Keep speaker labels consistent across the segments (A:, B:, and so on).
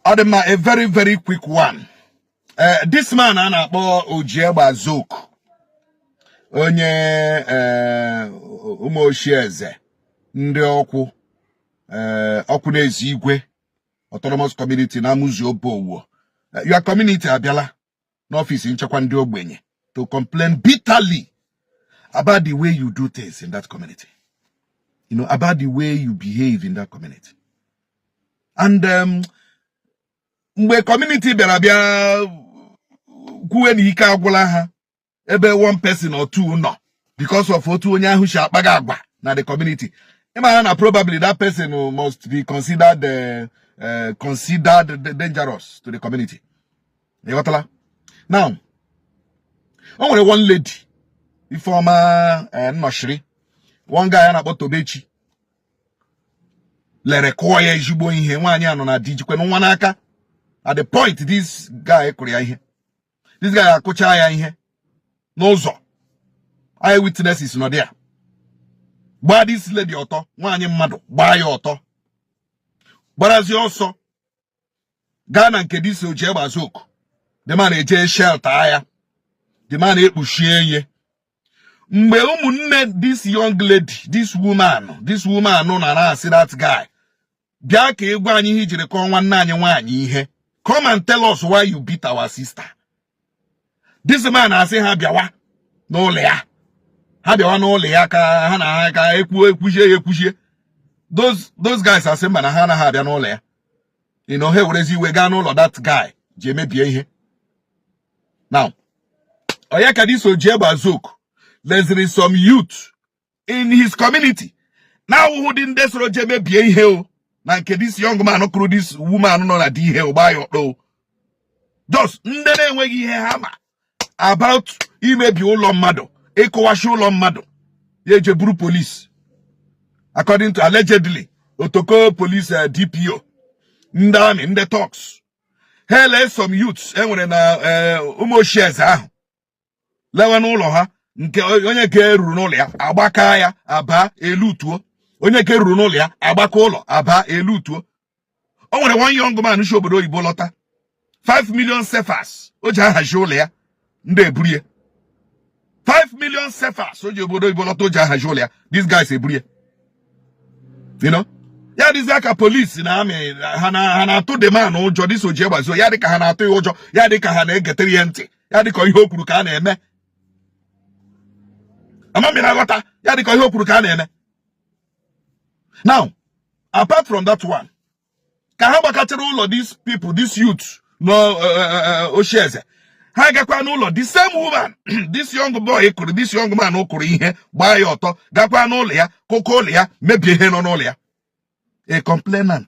A: ọ dị mma a very very quick one eh, this man a na-akpọ Oji egbe aza oku onye eh, Ụmụoshieze Ndiokwu eh, Okwunaezigwe autonomous community na Amuzi Obowo your community abịala n'ọfịs nchekwa ndị ogbenye to complain bitterly about the way you do things in that community you know about the way you behave in that community and um, mgbe community bịara bịa kwuwe na ike agwụla ha ebe one person or two nọ because of otu onye ahụ shi akpaga agwa na the community ị mara na probably that person must be considered uh, uh, considered dangerous to the community ị ghọtala now o nwere one lady Ifeoma uh, Nnọchiri one guy a na-akpọ Tobechi lere kụọ ya ezigbo ihe nwaanyị a nọ na di jikwenụ nwa n'aka at the point this guy kụrụ ya ihe this guy akụcha ya ihe n'ụzọ eye witnesses nọ there gbaa this lady ọtọ nwaanyị mmadụ gbaa ya ọtọ gbarazi ọsọ gaa na nke this Oji egbe aza oku the man eje shelter ya the man ekpuchie ya mgbe ụmụnne this young lady this woman this woman nọ na-asị that guy bịa ka ị gwa anyị ihe i jiri kụọ nwanne anyị nwaanyị ihe come and tell us why you beat our sister this man asị ha bịawa n'ụlọ ya ha bịawa n'ụlọ ya ka ha na ha ka ekwuo ekwuchie ya ekwuchie those those guys asị mba na ha anaghị abịa n'ụlọ ya you know ha ewerezi iwe gaa n'ụlọ that guy je mebie ihe now ọ ya ka this Oji egbe aza oku leziri some youth in his community na-awụhụdị ndị soro je mebie ihe o na nke this young man kụrụ this woman nọ na di ihe ọ gbaa ya ọtọ just ndị na-enweghị ihe ha ma about imebi ụlọ mmadụ ịkụwashi ụlọ mmadụ ya eje buru police according to allegedly Otoko police eh, DPO ndị army ndị thugs ha ele some youths e nwere na eh, Ụmụoshieze ahụ lewe n'ụlọ ha nke onye ka e ruru n'ụlọ ya agbaka ya aba elootuo onye ka e ruru n'ụlọ ya agbaka ụlọ aba elootuo o nwere one young man shi obodo oyibo lọta 5 million CFAs o ji ahazi ụlọ ya ndị eburie 5 million CFAs o ji obodo oyibo lọta o ji ahazi ụlọ ya these guys eburie you know ya dịzie ka police na army ha na-atụ the man ụjọ this Oji egbe aza oku ya dịka ha na-atụ ya ụjọ ya dịka ha na-egetere ya ntị ya dịka ihe o kwuru ka a na-eme ama m ị na-aghọta ya dịka ihe o kwuru ka a na-eme now apart from that one ka ha gbakachara ụlọ these people this youth na uh, uh, uh, ochieze ha gakwa n'ụlọ the same woman this young boy kụrụ this young man kụrụ ihe gbaa ya ọtọ gakwa n'ụlọ ya kụkọọ ụlọ ya mebie ihe nọ n'ụlọ ya a complainant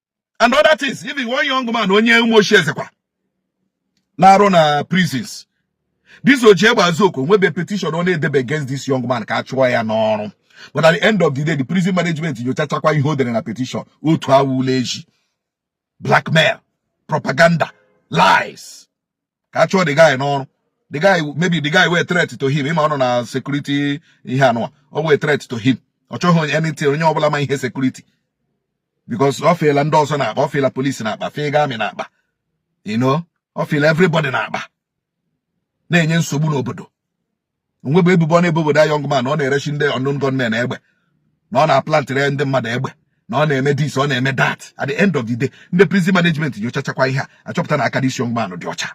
A: and other things even one young man onye ụmụochiezekwa na-arụ na prisons this ojiegbazoku nwebe petition ọ na-edebe against this young man ka a chụọ ya n'ọrụ but at the end of the day the prison management nyochachakwa ihe o dere na petition otu awụla ezi blackmail propaganda lies ka a chụọ the guy n'ọrụ the guy maybe the guy wụ a threat to him ị ma ọ nọ na security ihe anụwa ọ wụ a threat to him ọ chọghị onye anything onye ọbụla ma ihe security because o fiela ndị ọzọ n'akpa o fiela polisi n'akpa fiega amị n'akpa you know o fiela everybody n'akpa na-enye nsogbu n'obodo o nwebe ebubo ọ na-ebobe that young man na ọ na-eresi ndị unknown gunmen egbe na ọ na-aplantịrị ndị mmadụ egbe na ọ na-eme this ọ na-eme that at the end of the day ndị prison management nyochachakwa ihe a achọpụta na aka this young man dị ọcha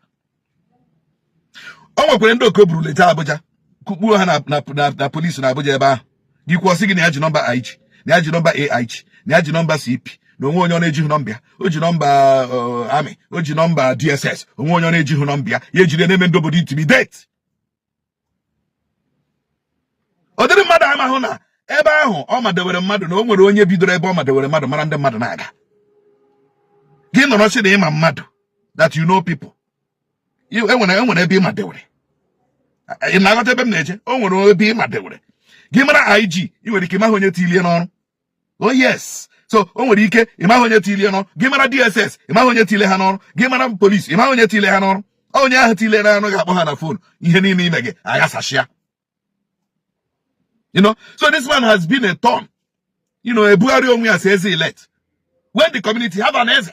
A: o nwekwara ndị oke buru leta Abuja kukpuo ha na polisi na Abuja ebe ahụ gị kwuo sị gị na ya ji nọmba IG na ya ji nọmba AIG na ya ji nọmba CP na o nwee onye ọ na-ejighị nọmba ya o ji nọmba uh, amị o ji nọmba DSS o nwee onye ọ na-ejighị nọmba ya ya ejide na-eme ndị obodo intimidate ọ dịrị mmadụ amahụ na ebe ahụ ọ madewere mmadụ na o nwere onye bidoro ebe ọ madewere mmadụ mara ndị mmadụ na-aga gị nọrọ sị na ị ma mmadụ that you know people e nwere e nwere ebe ị madewere ị na-aghọta ebe m na-eje o nwere ebe ị madewere gị mara IG i nwere ike ị maghị onye tilie n'ọrụ oh yes so o nwere ike ị maghị onye tile n'ọrụ gị mara dss ị maghị onye tile ha n'ọrụ gị mara polisi ị maghị onye tile ha n'ọrụ onye ahụ tile ha n'ọrụ ga-akpọ ha na fon ihe niile i mega aghasasịa you know so this man has been a thorn you know ebugharị onwe ya as eze elect when the community have an eze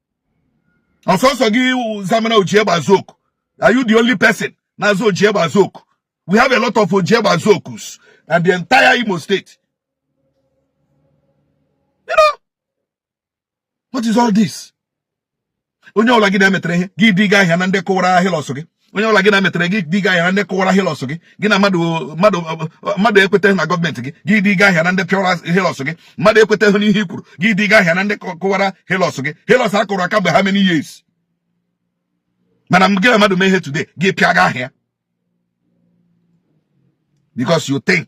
A: ọ sọsọ gị zamana ojiegbazoku are you the only person na-aza ojiegbazoku we have a lot of ojiegbazokus and the entire imo state you know what is all this onye ọbụla gị na ya metere ihe gị dega aha ya na ndị kụwara hilux gị onye ọbụla gị na ya metere gị dega aha ya na ndị kụwara hilux gị gị na mmadụ ekwetahụ na gọọmenti gị gị dega aha ya na ndị kụwara hilux gị mmadụ ekwetahụ n'ihe i kwuru gị dega aha ya na ndị kụwara hilux gị hilux a kụrụ aka mgbe how many years mana gị na mmadụ mee ihe today gị pịaga aha ya because you think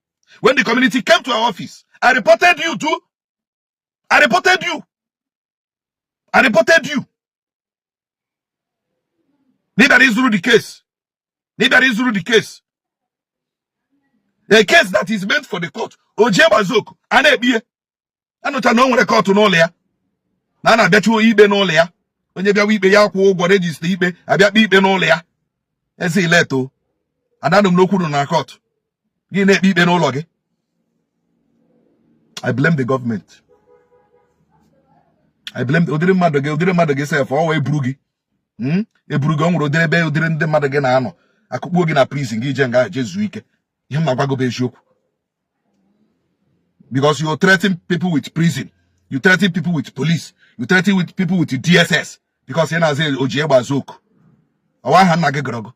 A: when the community came to our office i reported you too i reported you i reported you na ịbịara izuru the case na ịbịara izuru the case a case that is meant for the court oji egbazoku a na-ekpe ihe anụcha na o nwere court n'ụlọ ya na a na-abịachi ikpe n'ụlọ ya onye bịawa ikpe ya kwụọ ụgwọ register ikpe abịa kpee ikpe n'ụlọ ya eze ileto adanụ m n'okwu nụ na court gị na-ekpe ikpe n'ụlọ gị I blame the government I blame ụdịrị mmadụ gị ụdịrị mmadụ gị sef ọwụ eburu gị hmm? eburu gị ọ nwere ụdịrị ebe ụdịrị ndị mmadụ gị na-anọ akụkpuo gị na prison gị jee nga jezuo ike ihe m na-agwa gị bụ eziokwu because you threaten people with prison you threaten people with police you threaten with people with dss because ị na-aza oji egbe aza oku ọwụ aha nna gị gụrụ gị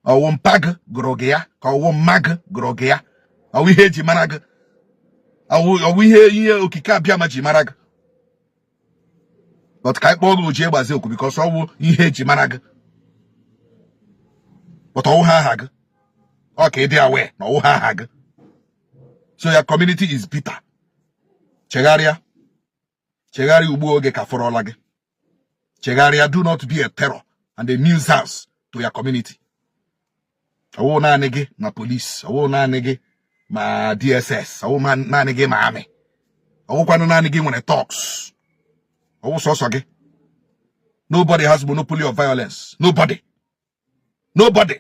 A: ọwụ mpa gị gụrụ gị ya ka ọwụ mma gị gụrụ gị ya ọwụ ihe eji mara gị ọwụ ihe ihe okike abịama ji mara gị but ka anyị kpọọ gị oji egbe aza oku because ọwụ ihe eji mara gị but ọwụhụ aha gị ọkwa ịdị aware na ọwụhụ aha gị so your community is bitter chegharịa chegharịa ugbu oge ka fọrọla gị chegharịa do not be a terror and a nuisance to your community ọwụ naanị gị ma police ọwụ naanị gị ma DSS ọwụ naanị gị ma army ọwụkwanụ naanị gị nwere thugs ọwụ sọsọ gị nobody has monopoly of violence nobody nobody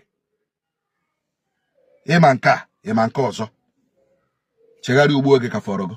A: ịma nke a ịma nke ọzọ chegharịa ugbu oge ka fọọrọ gị